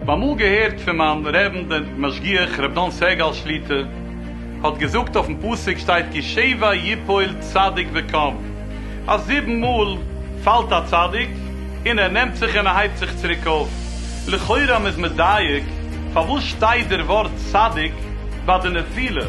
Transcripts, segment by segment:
אמאל געהערט פון מיין רעבן דער משגיח ר' דן סגל שליטא האט געזאגט אויפן פסוק שטייט כי שבע יפול צדיק וקם. אז זיבן מאל פאלט א צדיק און ער נעמט זיך און ער הייבט זיך צוריק אויף, לכאורה מ'איז מדייק פארוואס שטייט דער ווארט צדיק ביי די נפילה,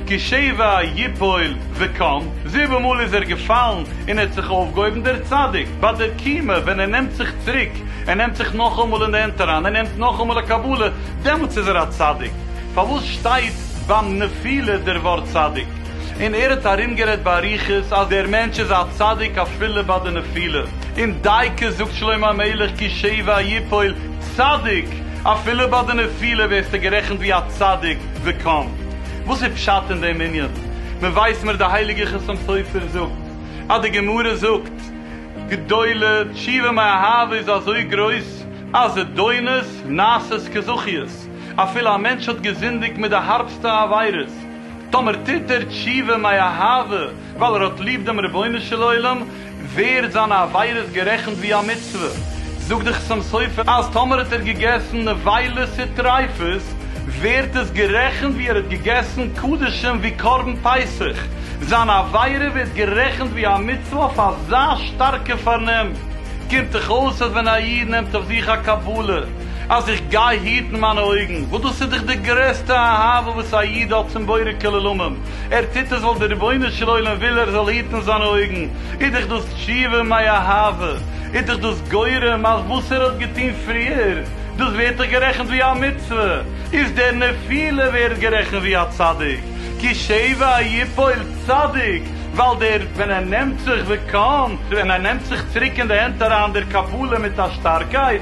כי שבע יפול וקם, זיבן מאל איז ער געפאלן און ער האט זיך אויפגעהויבן, דער צדיק ביי דער קימה ווען ער נעמט זיך צוריק, ער נעמט זיך נאכאמאל אין די הענט אריין, ער נעמט נאכאמאל א קבלה, דעמאלטס איז ער א צדיק, פארוואס שטייט ביים נפילה דער ווארט צדיק? און ער האט ארומגערעדט באריכות אז דער מענטש איז א צדיק אפילו ביי די נפילה, און דייקא זאגט שלמה המלך כי שבע יפול צדיק, אפילו ביי די נפילה ווערסטו גערעכנט ווי א צדיק, וקמ. וואס איז פשט אין דעם ענין? מען ווייסט מיר די הייליגער חותם סופר זאגט אז די גמרא זאגט גדולה תשובה מאהבה איז אזוי גרויס אז זדונות נעשית כזכיות, אפילו א מענטש האט געזינדיגט מיט די הארבסטע עבירות, טאמער טוט ער תשובה מאי אהבה ווייל ער האט ליב דעם רבונו של עולם, ווערט זיינע עבירות גערעכנט ווי א מצוה. זאגט דער חתם סופר אז טאמער האט ער געגעסן נבילות וטריפות, ווערט עס גערעכנט ווי ער האט געגעסן קדשים ווי קרבן פסח, זיין עבירה ווערט גערעכנט ווי א מצוה אויף אזא שטארקע פארנעם. קומט דאך אויס אז ווען א איד נעמט אויף זיך א קבלה, אז איך גיי היטן מיינע אויגן, וואס דאס איז דאך די גרעסטע אהבה וואס א איד האט צום בורא כל עולמים, ער טוט עס ווייל דער רבונו של עולם וויל ער זאל היטן זיינע אויגן, איז דאך דאס תשובה מאי אהבה, איז דאך דאס גורם אז וואס ער האט געטון פריער, דאס ווערט דאך גערעכנט ווי א מצוה, איז דער נפילה ווערט גערעכנט ווי א צדיק, כי שבע יפול צדיק, ווייל דער ווען ער נעמט זיך ווען ער נעמט זיך צוריק אין די הענט אריין דער קבלה מיט א שטארקייט,